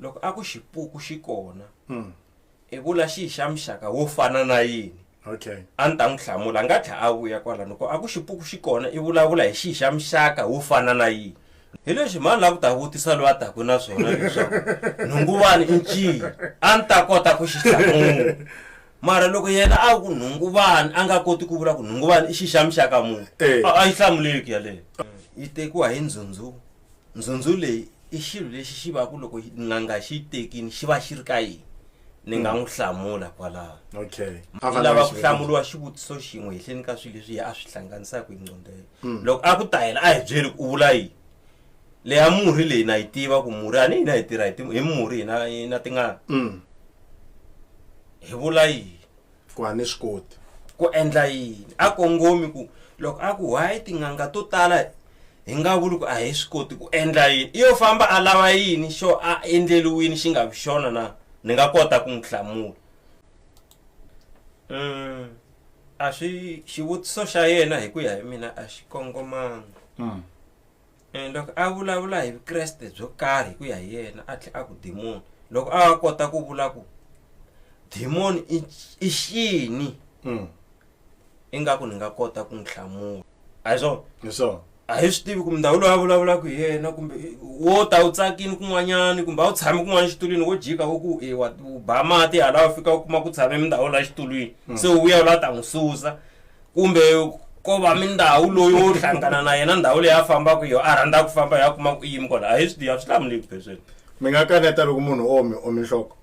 loko a ku xipuku xi kona mm. i vula xi xa muxaka wo fana na yini okay a ni ta n'wi hlamula a nga tlha a vuya kwala loko a ku xipuku xi kona i vulavula hi xi xa muxaka wo fana na yini hi leswi mani la ku ta vutisa loyi a taku na swona leswaku nhunguvani i nciyi a ni ta kota ku xi hlamula mara loko yena a ku nhunguvani a nga koti ku vula ku nhunguvani i xi xa muxaka munhu eh. a yi hlamuleki yaleyo yi tekiwa hi ndzhundzu ndzhundzu leyi i xilo lexi xi va ku loko n'anga xi yi tekini xi va xi ri ka yini ni nga n'wi hlamula kwalaho okay a va lava ku hlamuriwa xivutiso xin'we hehleni ka swilo leswi a swi hlanganisaka hi nqondelo hmm. loko a ku ta yena a hi byeli ku u vula yini leya murhi leyi na yi tiva ku murhi a ni hina hi tirha hi murhi hina na tingana hmm. hi vula yini ku a ni swi koti ku endla yini a kongomi ku loko a ku why tin'anga to tala hi nga vuli ku a hi swi koti ku endla yini iyo famba a lava yini xo a endleliwini xi nga vi xona na ni nga kota ku n'wi hlamula um a swi xivutiso xa yena hi ku ya hi mina a xi kongomanga hmm. And loko a vulavula hi Vukreste byo karhi hi ku ya hi yena a tlhe a ku demon loko a kota ku vula ku demon i i xini Mm. ingaku ni nga kota ku n'wi hlamula a hi swona Hi swona. a hi swi tivi ku mundhawu loyi a vulavulaka hi yena kumbe wo ta u tsakini kun'wanyani kumbe a wu tshami kun'wana xitulwini wo jika wo ku e wa u ba mati hala u fika u kuma ku tshame mindhawu la xitulwini se u vuya u la ta n'wi susa kumbe ko va mindhawu loyi wo hlangana na yena ndhawu leyi a fambaka yo a rhandza ku famba ya kuma ku yimi kona a hi swi a swi hlamuleki phesweni mi nga kaneta loko munhu o mi omi nhloko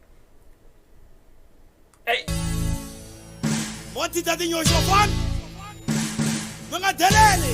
mo tita tinyoxo fani mi nga deleli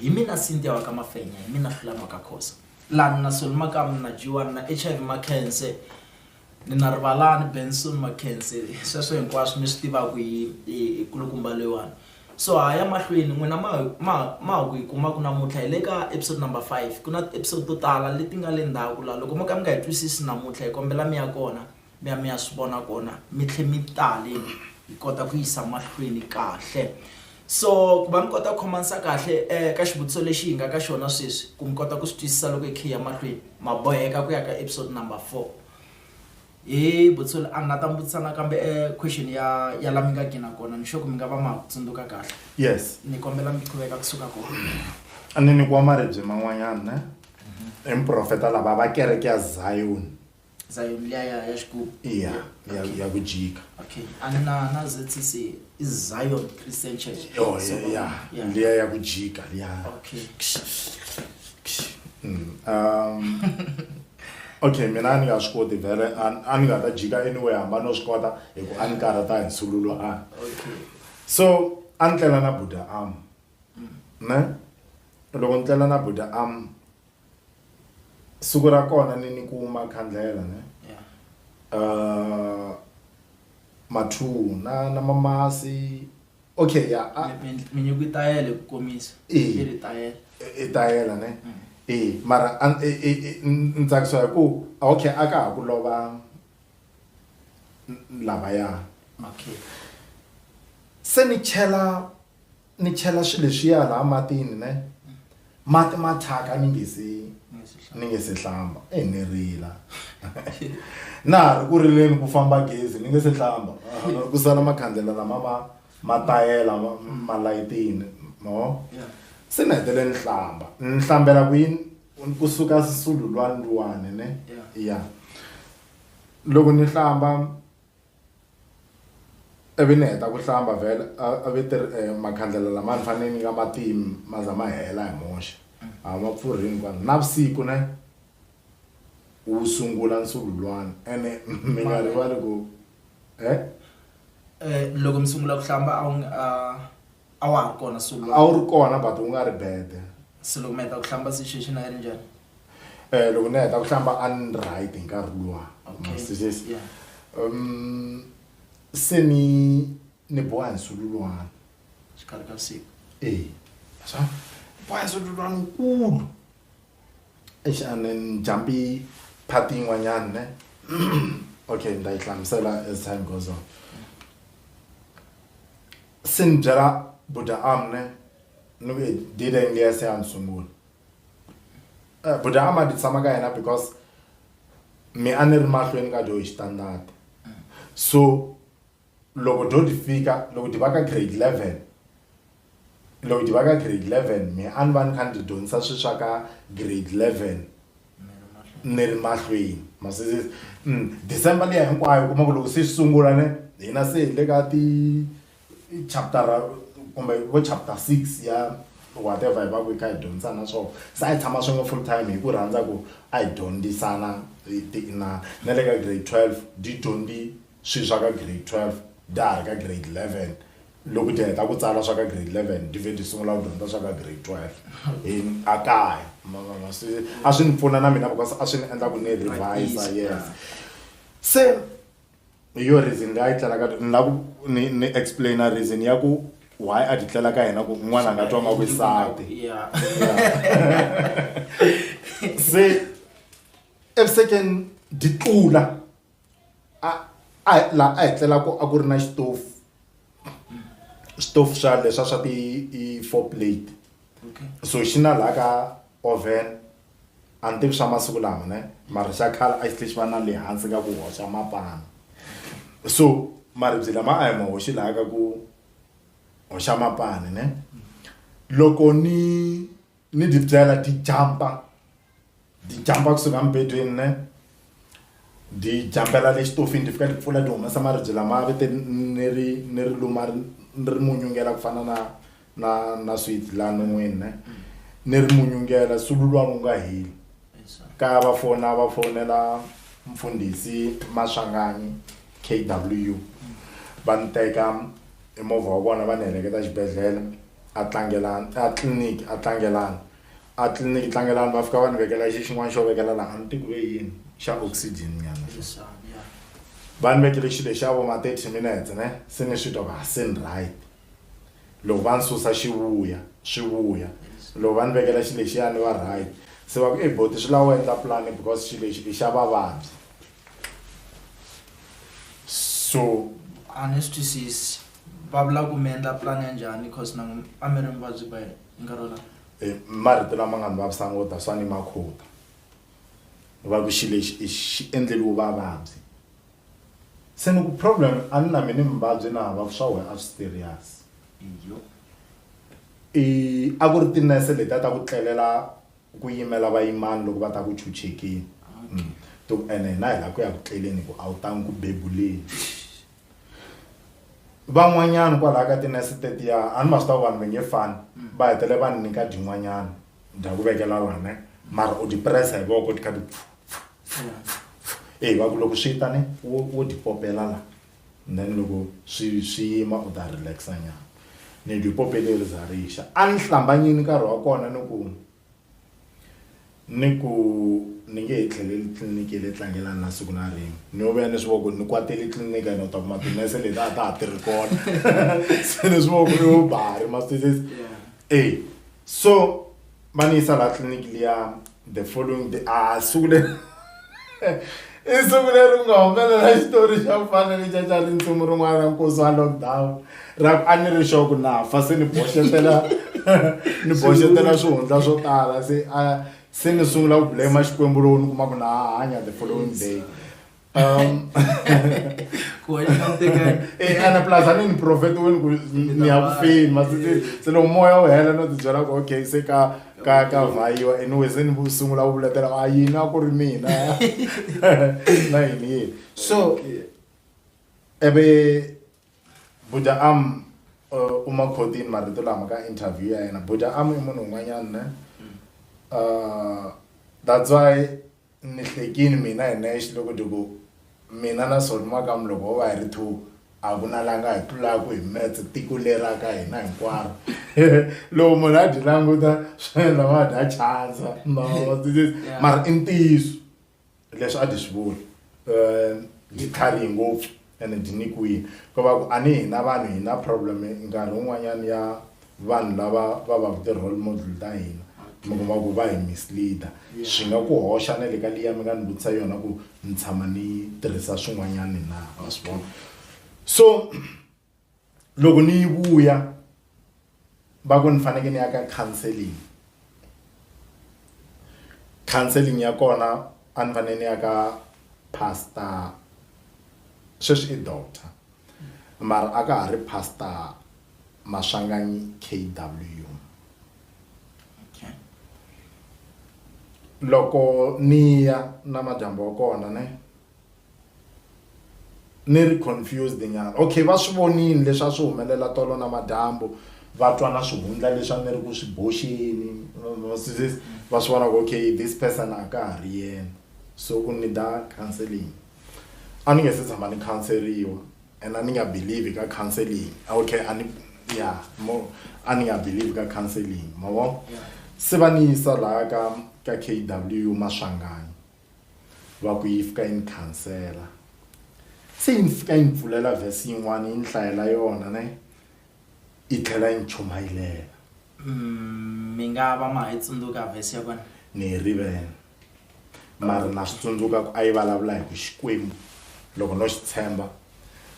Hi mina Cynthia wa ka Mafenya, hi mina Fulani wa ka Khosa. Lani na Soli Makamu, ni na Jiwani, ni na HIV Makhense, ni na Rivalani, Benson Makhense, sweswo hinkwaswo mi swi tivaku hi hi kulukumba loyiwani. So ha ya mahlweni, n'wina ma ma ma ha ku yi kumaku namuntlha hi le ka episode number five. Ku na ti-episode to tala leti nga le ndzhaku la, loko mo ka mi nga yi twisisi namuntlha hi kombela mi ya kona mi ya mi ya swi vona kona mi tlhe mi tale hi kota ku yisa mahlweni kahle so ku va mi kota ku khomanisa kahle um ka xivutiso lexi hi nga ka xona sweswi ku mi kota ku swi twisisa loko hi khe ya mahlweni ma boheka ku ya ka episode number four hi vutiso a ni nga ta mi vutisa nakambe um question ya ya la mi nga gina kona ni xoku mi nga va ma tsundzuka kahle yes ni kombela mi qhuveka kusuka kona a ni nyikiwa maribye man'wanyana ne emprofeta lava va kereke ya zion Zion leya ya ya xigubu. Iya, ya ya ku jika. Okay. A ni na na ZCC i Zion Christian Church. Yo, So, ya, ya, yeah. leya ya ku jika, ya. Okay. Mm, um, okay mina a ni nga swi koti vhele a- a ni nga ta jika anyway hamba no swi kota hi ku a ni karhata hi nsululo a Okay. so a ni tlela na buda am ne loko ni tlela na buda am siku ra kona ni ni kuma khandlela ne yeah. uh, mathu na na mamasi okay ya ah. minyuku yi tayele ku komisa yi ri tayela i tayela ne mm. e mara ni tsakisiwa hi ku okay a ka ha ku lova lavaya okay se ni chela ni chela swilo leswiya laha matini ne mati ma thyaka ni nge se ni nge se hlamba e ni rila na ha ri ku rileni ku famba gezi ni nge se hlamba ku sala makhandlela lama ma ma tayela malayitini ma vo se ni hetele ni hlamba ni hlambela kwini kusuka swisululwani luwani ne ya loko ni hlamba Ivi ni heta ku hlamba vhele a a ve ti ri e makhandlela lama ni fanele ni nga ma timi ma za ma hela hi moxe a ma pfurhi hinkwawo navusiku ne wu sungula nsululwana ene mi nga rivali ku e. Loko mi sungula ku hlamba a wu a. a wa ha ri kona sulu a wu ri kona but u nga ri bede se loko mi heta ku hlamba situation a yi ri njhani um loko ni heta ku hlamba a ni right hi nkarhi luwa um se ni ni boha hi sulu luwana xikarhi ka siku e swa boha hi sulu luwana wukulu exanen jambi phati yin'wanyani ne okay ni ta yi hlamusela as time goes on Sin byela Buda Amne ni ku dide nge se a ni sungula. Eh, Buda Ama di tshama ka yena because mi a ni ri mahlweni ka do hi xitandati. So loko do di fika loko di va ka grade 11 loko di va ka grade 11 mi a ni va ni kha ni ti dyondzisa swi swa ka grade 11. ni ri mahlweni ma swi se December liya hinkwayo u kuma ku loko se swi sungula ne hina se hi le ka ti chaputara kumbe vo chapter six ya whatever hi va ku hi kha hi dyondzisana swona se a hi tshama swin'we full time hi ku rhandza ku a hi dyondzisana hi ti inana na le ka grade twelve tidyondzi swilo swa ka grade twelve ta ha ri ka grade eleven loko ti heta ku tsala swa ka grade 11 ti vhe ti sungula ku dyondza swa ka grade 12 hi a kaya ma vona se a swi ni pfuna na mina because a swi ni endla ku ni revise yes se hi yo reason leyi a yi tlelaka ni lava ku ni ni explain-a reason ya ku why a ti tlela ka yena ku n'wana a nga twa nga vuyisati Yeah. se evusekeni di tlula a a laha a hi tlelaka a ku ri na xitofu xitofu xa leswa swa ti i four plate so xi na laha ka oven a ni tivi swa masiku lama ne mara xa khale a xi tlhe xi va na le hansi ka ku hoxa mapana so maribye lama a hi ma hoxi laha ka ku hoxa mapani ne loko ni ni di byela di jampa di jampa kusuka mibedweni ne di jambela le xitofini ti fika ti pfula ti humesa maribye lama ve te ni ri ni ri luma ri ni ri munyungela ku fana na na na sweet la non'wini ne ni ri munyungela sulu luwa wu nga heli ka va fona va fonela mfundhisi maswanganyi k w va ni teka hi movha wa vona va ni heleketa xibedhlele a tlangelani a tliliniki a tlangelani a tliliniki tlangelani va fika va ni vekela xi xin'wana xo vekela laha a ni tiku ve yini xa oxygen nyana va ni vekele xilo xa vo ma thirty minutes ne se ni swi twa va se ni right loko va ni susa xi vuya swi vuya loko va ni vekela xi lexiya ni va right se va ku i boti swi lava u endla pulani because xilo lexi i xa vavabyi. so a ni swi twisisi va vula ku mi endla plan ya njhani cause na a mi ri muvabyi by nkarhi wolowo Eh, marito lama nga ni vavisa ngota swa ni makhuta ni va ku xi lexi i xi endleliwe vavabyi se ni ku problem a ni na mina muvabyi na hava ku swa wena a swi serious iyo i a ku ri tinese leti a ta ku tlelela Ku yimela vayimani loko va ta ku chuchekeni. Okay. To ku ene hina hi lava ku ya ku tleleni hi ku a wu tangi ku bebuleni. van'wanyana kwalaho ka tinese tetiya a ni ma swi ta vanhu va nge fani mm. va hetele va ni nyika dyin'wanyana dya ku vekela wena mara u dyi pressa hi voko ti kha ti eyi va ku loko swi ta ni wo dyi popela laha then loko swi swi yima u ta relax-a nyana. Ni twe pope leri za ri xa. A ni hlambanyini nkarhi wa kona ni ku ni ku ni nge he tlheleli tliliniki ya le Tlangelani na siku na rin'we. Ni yo vuya ni swi vona ku ni kwatele tliliniki ene u ta kuma tinese leti a ta ha tirhi kona. Se ni swi vona ku yo ba ha ri ma swi twisisa? E so va ni yisa laha tliliniki liya the following day a ah, siku leri i siku leri ku nga humelela xitori xa ku fana ni xa xa ri ntsumi rin'wana ra nkosi wa lockdown ra ku a ni ri xo ku na fa se ni boxetela ni boxetela swihundla swo tala se a se ni sungula ku blame xikwembu lowu ni kuma ku na hanya the following day Um, ku hanya ka ntekelo eh ana plus ani ni prophet wenu ku ni ya kufeni masisi se lo moya u hela no tibyela ku okay se ka ka ka vayiwa anyway se ni sungula ku vuletela a yini a ku ri mina na yini yini so ebe buda am uh, uma khodini marito lama ka interview ya yena buda am i munhu un'wanyana ne uh, that's why Ni hlekini mina hi nexe loko ni ku, Mina na Soni makamu loko ho va hi ri two, a ku na la nga hi tlulaku hi maths tiko leri ra ka hina hinkwaro. Loko munhu a dyi languta swi endla va dya chandza mara i ntiyiso leswi a dyi swi vula. Ndzi tlharihe ngopfu. ene byi nyikiwile ko va ku a ni hina vanhu hi na problem nkarhi wun'wanyana ya vanhu lava va va ku ti-role model ta hina mi kuma ku va hi misleader swi nga ku hoxa na le ka liya mi nga ni vutisa yona ku ni tshama ni tirhisa swin'wanyani na wa swi vona so loko ni yi vuya va ku ni fanekele ni ya ka counseling counseling ya kona a ni fanele ni ya ka pastor sweswi i doctor mara a ka ha ri pastor maswanganyi K_W loko ni ya na madyambu wa kona ne. ni ri confused nyana okay va swi vonile leswi a swi humelela tolo na madyambu va twa na swihundla leswi a ni ri ku swi boxeni va swi vona ku okay this person a ka ha ri yena so u need-a counselling a ni nge se tshama ni khanseriwa and a ni nga believe ka counselling okay a ni ya mo a ni nga believe ka counselling ma vo se va ni yisa laha ka ka K_W Maswanganyi. va ku yi fika yi ni khansela se yi ni fika yi ni pfulela vhesi yin'wana yi ni hlayela yona ne yi tlhela yi ni chumayilela mm, mi nga va ma hi tsundzuka vhesi ya kona ni yi rivele mara na swi tsundzuka ku a yi vulavula hi ku xikwembu loko no xi tshemba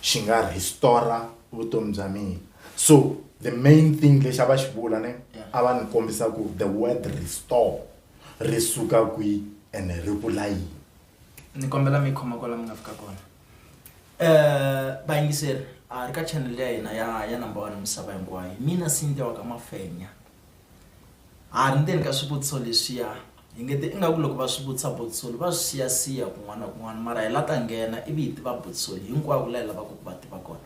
xi nga rhistora vutomi bya mina so the main thing lexi a va xi vula ne a va ni kombisa ku the word restore ri suka kwi ene ri vula yini ni kombela mi khoma kwala mi nga fika kona um vayingiseri a ri ka channel ya hina ya ya number one misava hinkwayo mina sinta wa ka mafenya a ri ndzeni ka swivutiso leswiya hi nge ti ingaku loko va swi vutisa botsoli va swi siyasiya kun'wana na kun'wana mara hi la ta nghena ivi hi tiva botsoli hinkwako la hi lavaka ku va tiva kona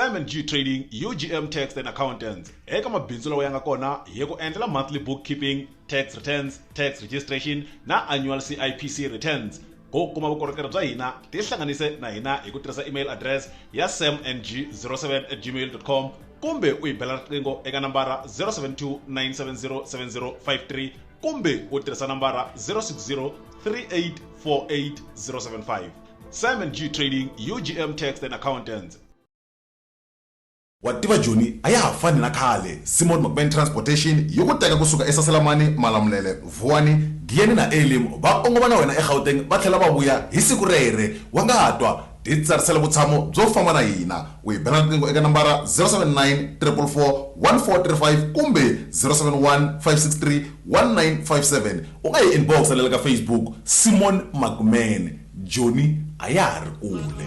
Simon G Trading, UGM Tax and Accountants. Eka mabindzu lawa ya nga kona hi ku endlela monthly bookkeeping tax returns tax registration na annual cipc returns go kuma vukorhokeri bya hina tihlanganise na hina hi ku tirhisa email address ya samng07 at gmail com kumbe u yi bela riqingho eka nambara 072 970 7053 kumbe u tirhisa nambara 060 3848 075 samng trading ugm tax and accountants Wa tiva Joni a ya ha fani na khale, Simon Mokbeni Transportation yi ku teka ku suka eSaselamani, Malamulele, Vuwani, Giyani na Elim va kongoma na wena eGauteng va tlhela va vuya hi siku rere, wa nga ha twa, titsarisela vutshamo byo famba na hina u hi bela riqingho eka nambara 079 344 1435 kumbe 071 563 1957 u nga hi inbox-ela le ka Facebook, Simon Mokbeni, Joni a ya ha ri kule.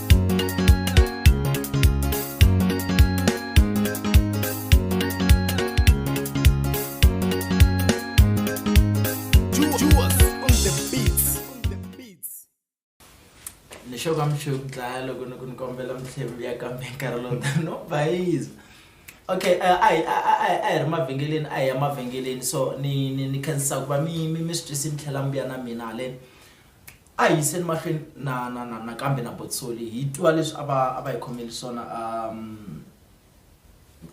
xo ka mi xi ku dlaya loko ni ku ni kombela mitlhembi ya kambe nkarhi lowu tani no bayiza okay eh, a hi ri mavhengeleni a hi ya mavhengeleni so ni ni ni khensisa ku va mi mi mi swi twisi mi tlhela mi vuya na mina haleni A hi yiseni mahlweni na, na, na, nakambe na Botsoli, hi twa leswi a va, a va hi khomeli swona, um,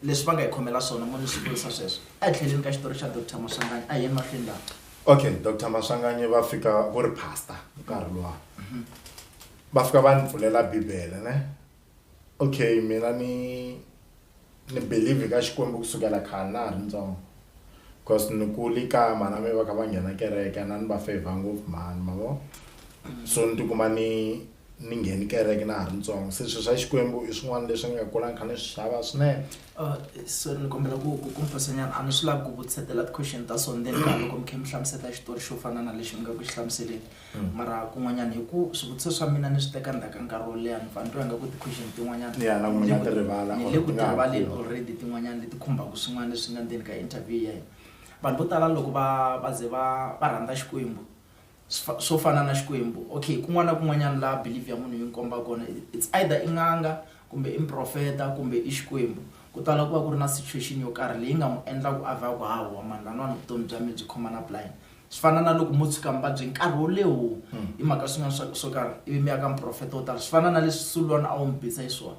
leswi va nga hi khomela swona. Mo ni swi vurisa sweswo. Etlhelweni ka xitori xa Doctor Maswanganyi. A hi yeni mahlweni laha. Okay, Doctor Maswanganyi va fika, ku ri Pastor nkarhi luwa. Va fika va ni pfulela Bibele, ne? okay mina ni ni believe ka xikwembu kusukela khale na ha ri ntsongo cause ni kuli kaya mhana mi va kha va nghena kereke na ni va favor ngopfu mhani ma vo so ni tikuma ni ni ngheni kereke na ha ri ntsongo se swilo swa xikwembu i swin'wana leswi ni nga kula ni kha ni swi xava swinene uh, so ni kombela ku ku kumfasanyana a ni swi lavi ku vutisetela ti-question ta so ndzeni ka loko mi khe mi hlamuseta xitori xo fana na lexi mi nga ku xi hlamuseleni mara kun'wanyana hi ku swivutiso swa mina ni swi teka ndzhaku ka nkarhi wo leha ni pfa ni twa nga ku ti-question tin'wanyana ni le ku tirivaleni already tin'wanyana leti khumbaka swin'wana leswi nga ndzeni ka interview ya hina vanhu vo tala loko va va ze va va rhandza Xikwembu swo fana na Xikwembu okay kun'wana na kun'wanyana laha believe ya munhu yi n'wi komba kona it's either i n'anga kumbe i muprofeta kumbe i Xikwembu ku tala ku va ku ri na situation yo karhi leyi nga n'wi endla ku a vha ku hawa mhani van'wana vutomi bya mina byi khoma na blind. Swi fana na loko mo tshuka mi vabye nkarhi wo leho hi mhaka swin'wana swa swo karhi ivi mi ya ka muprofeta wo tala swi fana na leswi sulwana a wu mi bisa hi swona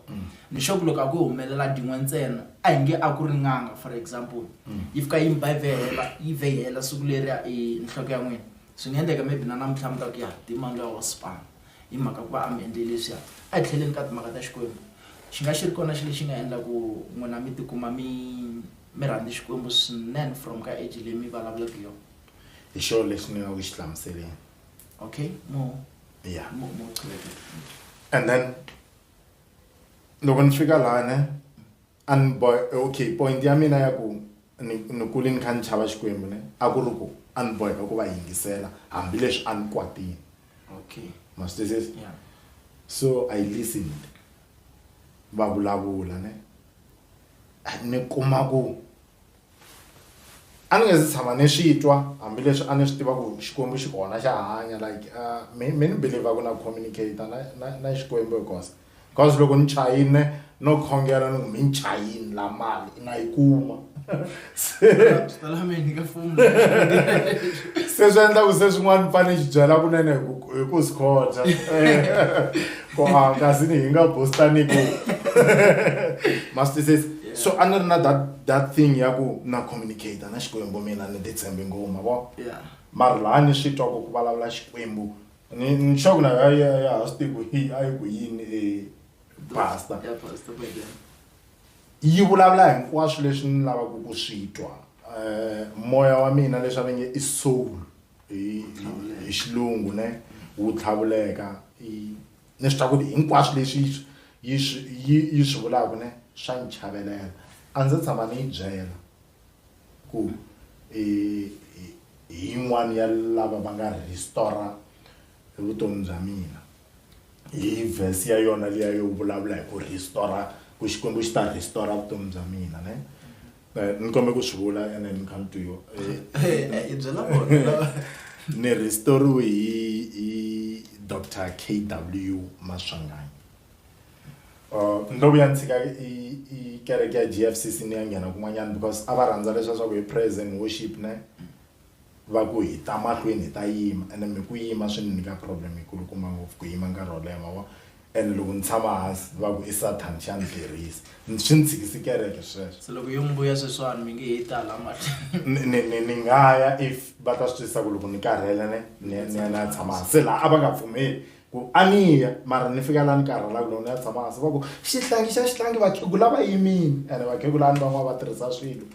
ni xo ku loko a ku humelela din'we ntsena a hi nge a ku ri n'anga for example yi fika yi mi ba yi vhehela yi vhehela siku leriya i nhloko ya n'wina swi nga endleka maybe na namuntlha mi ta ku ya dimani loya wa sipana hi mhaka ku va a mi endle leswiya a hi tlheleni ka timhaka ta xikwembu xi nga xi ri kona xi lexi nga endla ku n'wina mi tikuma mi Mi rhandzi Xikwembu swinene from ka age leyi mi vulavulaka yo. Hi xona lexi ni nga ku xi hlamuseleni. Okay, mo Yeah. mo mo chuveka. And then loko ni fika lana a ni boy okay point ya mina ya ku ni ni kule ni kha ni chava Xikwembu ne a ku ri ku a ni boheka ku va yingisela hambileswi a ni kwatile. Okay. Ma swi twisisa? Yeah. So I listened va vulavula ne. ni kuma ku a ni nge se tshama ni swi twa hambileswi a ni swi tiva ku xikwembu xi kona xa hanya like me me ni believer ku na communicate na na na xikwembu hi kosa because loko ni chayile no khongela ni ku mi ni chayile la mali na yi kuma se swi endla ku se swin'wana ni fanele xi byela kunene hi ku hi ku swi khotsa ku a kasi ni hi nga bostani ku mastises so a ni ri na that that thing ya ku na communicate na xikwembu mina ni titshembi ngoma vo mara laha ni swi twa ku ku vulavula xikwembu ni ni sure ku na ya ya ya ha swi tivi ku hi a yi ku yini e pastor Yi vulavula hinkwaswo leswi ni lavaka ku swi twa. Um moya wa mina leswi a va nge i soul hi hi xilungu ne wu tlhavuleka i ni swi tiva ku ri hinkwaswo leswi yi swi yi swi yi yi swi vulaka ne swa ni chavelela a ndzi se tshama ni yi byela ku i i i yin'wani ya lava va nga restore-a. hi vutomi bya mina hi vhesi ya yona liya yo vulavula hi ku restore ku xikwembu xi ta restore vutomi bya mina ne eh, ni kombe ku swi vula ene ni kha ni twiyo eh, eh, ni restoriwe hi hi dr k w maswanganyi Uh, ndo vuya ni tshika i kereke ya g f c c ni ya nghena kun'wanyana because a va rhandza leswa swa ku hi praise and worship ne va ku hi ta mahlweni hi ta yima ene mi ku yima swi ni nyika problem yi kulukumba ngopfu ku yima nkarhi wo leha ma vo ene loko ni tshama hansi va ku i sathana xa ni tirhisa swi ni tshikisi kereke sweswo se loko yo mi vuya sweswiwani mi nge he ta la mahlweni ni ni ni nga ya if va ta swi twisisa ku loko ni karhele ni ni ni ya ni ya tshama hansi se laha a va nga pfumeli Ku aniya mara ni fika la ni karhala kona ni ya tshama hansi va ku xihlangi xa xihlangi vakhegula va yimile ene vakhegula a ni van'wana va tirhisa swilo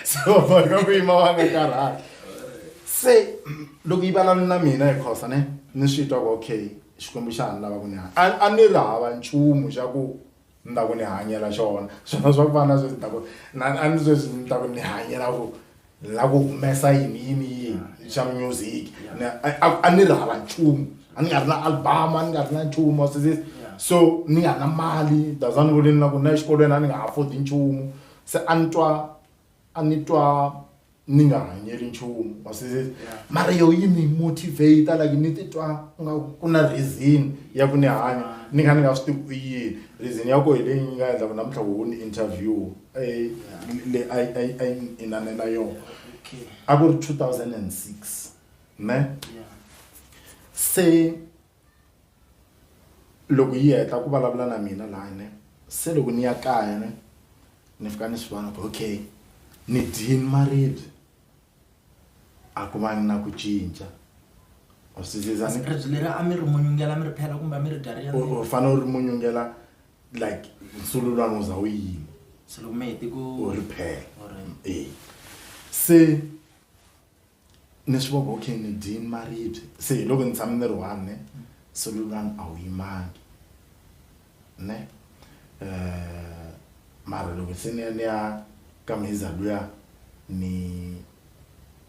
se va boheka ku yima va nga karhali se loko yi vulavula na mina hi khosa ne ni swi twa ku okay xikwembu xa ha ni lava ku ni a a ni ri hava nchumu xa ku Ni ta ku ni hanyela xona swona swa ku va na sweswi ni ta ku na a ni sweswi ni ta ku ni hanyela ku ni lava ku humesa yini yini yini xa music ni a a ni ri hava nchumu a ni nga ri na album a ni nga ri na nchumu wa swi twisisa so ni nga ri na mali that's why ni vule ni na ku na exikolweni a ni nga ha afford nchumu se a ni twa a ni twa. ni nga hanyeli nchumu wa swi Yeah. mara yo yi ni motivate like ni titwa nga ku na reason ya ku ni hanya ni nga ni nga swi tivi ku i yini reason ya ko hi leyi nga endla ku namuntlha wo ni interview eh, le a yi- a yi- a yi ni inanela yona Okay. a ku ri 2006 ne Yeah. se loko yi heta ku vulavula na mina laha ne se loko ni ya kaya ne ni fika ni swi vona ku okay ni dyini maribye a ku va na ku cinca u swi ziza ni ribye leri a mi ri munyungela mi ri phela kumbe a mi ri gari ya u fanele u ri munyungela like nsululwana u za u yini se loko mi hete ku u ri phela Alright. e se Ni swi vona ku okay ni dye ni maribye se hi loko ni tshame ni ri one ne nsolo lwani a wu yimangi ne mara loko se ni ya ni ya ka Mheza luya ni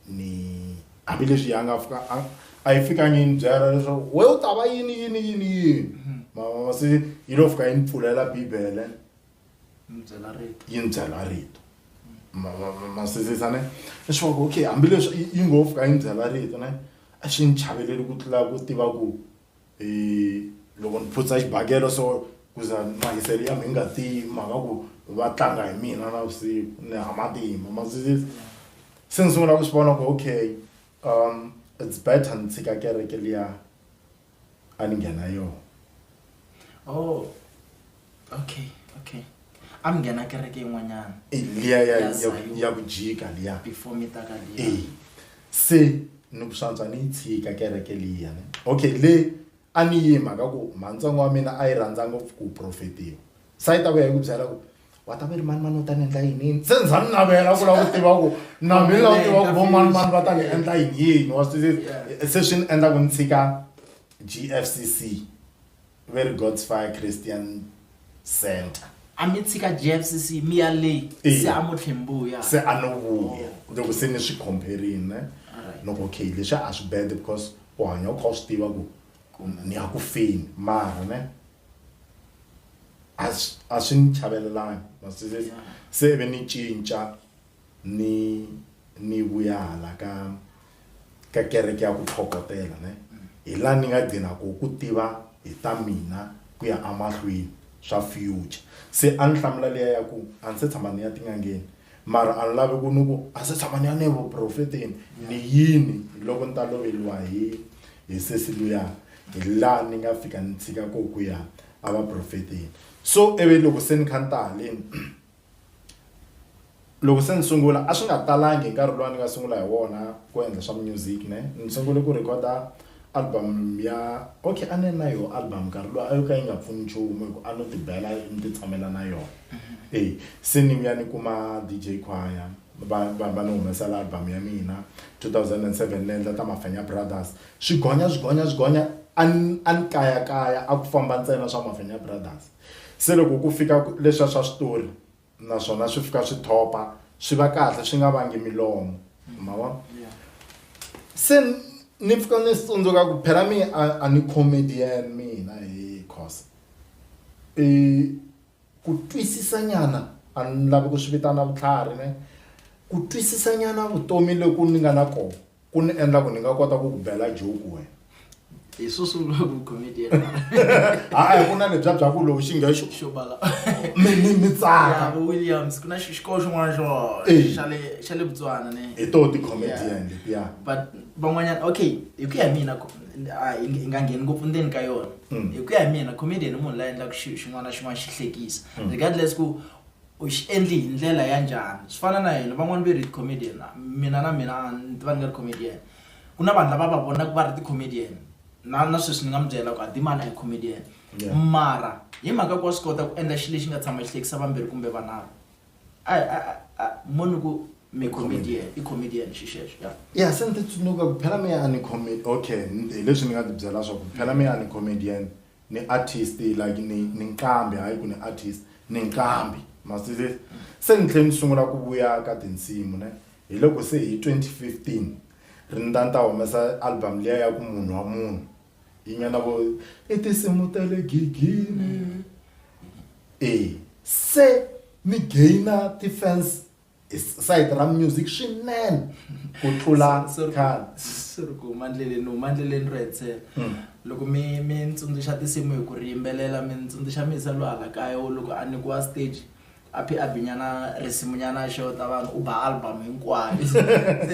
ni hambileswi ya nga fika a a yi fikangi yi ni byela leswaku wena u ta va yini yini yini yini mavona se yi lo fika yi ni pfulela bibele. yi ni byela rito masizisa ne i swi vaka okay hambileswi yi ngo fika yi ni byela rito ne a xi ni chaveleli ku tlula ku tiva ku um loko ni phutsa xibakelo so ku za mahiselo ya mi nga tiyi mhaka ku va tlanga hi mina navusiku ni ha matimba masizisa se ni sungula ku swi vona ku okay um it's better ni tshika kereke liya a ni nghena yona oh okay okay a mi nghena kereke yin'wanyana Eh, liya ya- Ya ya- Zion. ya ku jika liya before mi ta ka liya Eh, se ni ku swantswa ni yi tshika kereke liya ne okay le a ni yima ka ku mhantsongo wa mina a yi rhandza ngopfu ku profetiwa sa yi ta vuya yi ku byela ku wa ta ve ri mani mani u ta ni endla yini yini se ni za ni navela ku lava ku tiva ku na mina lava tiva ku vo mani mani va ta ni endla yini yini wa swi se swi ni endla ku ni tshika gfcc ve ri gods fire christian center a mi tshika gfcc mi ya leyi se a mo tlhembuya se a no vuya oh. loko se ni swi compherini loko okay leswi a swi bad because u hanya u kha u swi tiva ku ni ya ku feni mara ne a swi a swi ni chavelelangi ma swi twisisa se ve ni cinca ni ni vuya hala ka ka kereke ya ku tlhokotela ne hi la ni nga gcina ko ku tiva hi ta mina ku ya amahlweni swa future se a ni hlamula liya ya ku a ni se tshama ni ya tin'angeni Mara a ni lavi ku ni ku a se tshama ni ya ni ya evuprofeteni. Ni yini loko ni ta loveriwa hi hi sesi luya hi laha ni nga fika ni tshika koho ku ya evaprofeteni. So ivi loko se ni kha ni ta haleni loko se ni sungula a swi nga talangi hi nkarhi luwa ni nga sungula hi wona ku endla swa mu-music ne. Ni sungule ku record-a Album ya Okay a ni na yoho album nkarhi luwa a yo ka yi nga pfuni nchumu hi ku a no ti bela ni ti tshamela na yona e se ni vuya ni kuma DJ Khwaya va va va ni humesela album ya mina 2007 ni endla ta Mafenya Brothers swi gonya swi gonya swi gonya a ni a ni kayakaya a ku famba ntsena swa Mafenya Brothers se loko ku fika leswiya swa switori. naswona swi fika swi thopa swi va kahle swi nga vangi milomo ma vona se ni pfuka ni swi tsundzuka ku phela mi a a ni comedian mina hi cause i ku twisisa nyana a ni lavi ku swi vitana vutlhari ne ku twisisa nyana vutomi loku ni nga na kona Ku ni endla ku ni nga kota ku ku bela joke wena. Hi swo sungula vu comedian. Hayi ku na lebya bya ku lowu xinge xo xo bala. Mi mi mi tsaka. Vu Williams ku na xi xikolo xin'wana xo xa le xa le Botswana ne. Hi to ti comedian letiya. But van'wanyana okay hi ku ya hi mina a hi nga ngheni ngopfu ndzeni ka yona. Hi ku ya hi mina comedian i munhu la endlaku xi xin'wana na xin'wana xi hlekisa regardless ku u xi endli hi ndlela ya njhani swi fana na hina van'wani ve ri ti comedian mina na mina ni tiva ni nga ri comedian ku na vanhu lava va vonaku va ri ti comedian na na sweswi ni nga mi byela ku a Dimani a hi comedian mara hi mhaka ku wa swi kota ku endla xilo lexi nga tshama xi hlekisa vambirhi kumbe vanharhu a a a mo ni ku mi comedian i comedian xi xexo ya ya se ni ti tsundzuka ku phela mehe a ni okay hi leswi ni nga ti byela swa ku phela mehe a ni comedian ni artist like ni ni nqambi hayi ku ni artist ni nqambi masizisi se ni tlhela ni sungula ku vuya ka tinsimu ne hi loko se hi 2015 ri ni ta ni ta humesa album liya ya ku munhu wa munhu yi nga na vo i tinsimu ta le gigini e se ni gaina ti-fans side ra music swinene ku tlula khale swi ri ku huma ndleleni huma ndleleni ro hetsela hmm. loko mi mi ni tsundzuxa tinsimu hi ku ri yimbelela mi ni tsundzuxa mi yisa lwahala kaya wo loko a nyikiwa stage a phi a binyana risimunyana xo ta vanhu u ba album hinkwayo se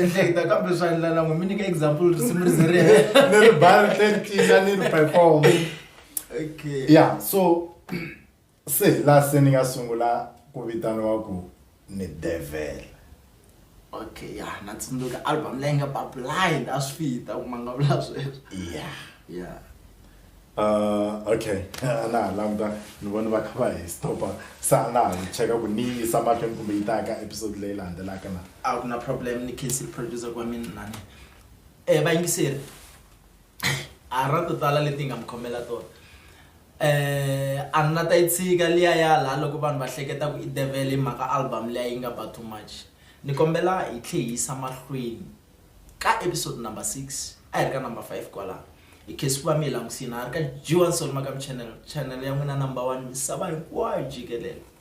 hleketa kambe swa ndlela n'we mi nyika example risimu ri ze ri hela ni ri ba ri tlhela ri tlina ni ri perform okay yeah so Se hi laha se ni nga sungula ku vitaniwa ku ni Devil. Okay ya na tsundzuka album leyi nga ba blind a swi fit a ku ma nga vula sweswo. Ya. Ya. Uh okay a na ha languta ni vona va kha va hi stop-a se a na ha yi cheka ku ni yi yisa mahlweni kumbe yi ta ya ka episode leyi landzelaka na. A ku na problem ni khensile producer wa mina lani vayingiseri. A ri na to tala leti hi nga mi khomela tona. A ni la ta yi tshika liya ya la loko vanhu va hleketa ku i devhele hi mhaka album liya yi nga ba too much. Ni kombela hi tlhe hi yisa mahlweni ka episode number six a hi ri ka number five kwala hi khe swi va mi hi langusini a ri ka G_Y_S_O Makamu channel channel ya n'wina number one misava hinkwayo jikelele.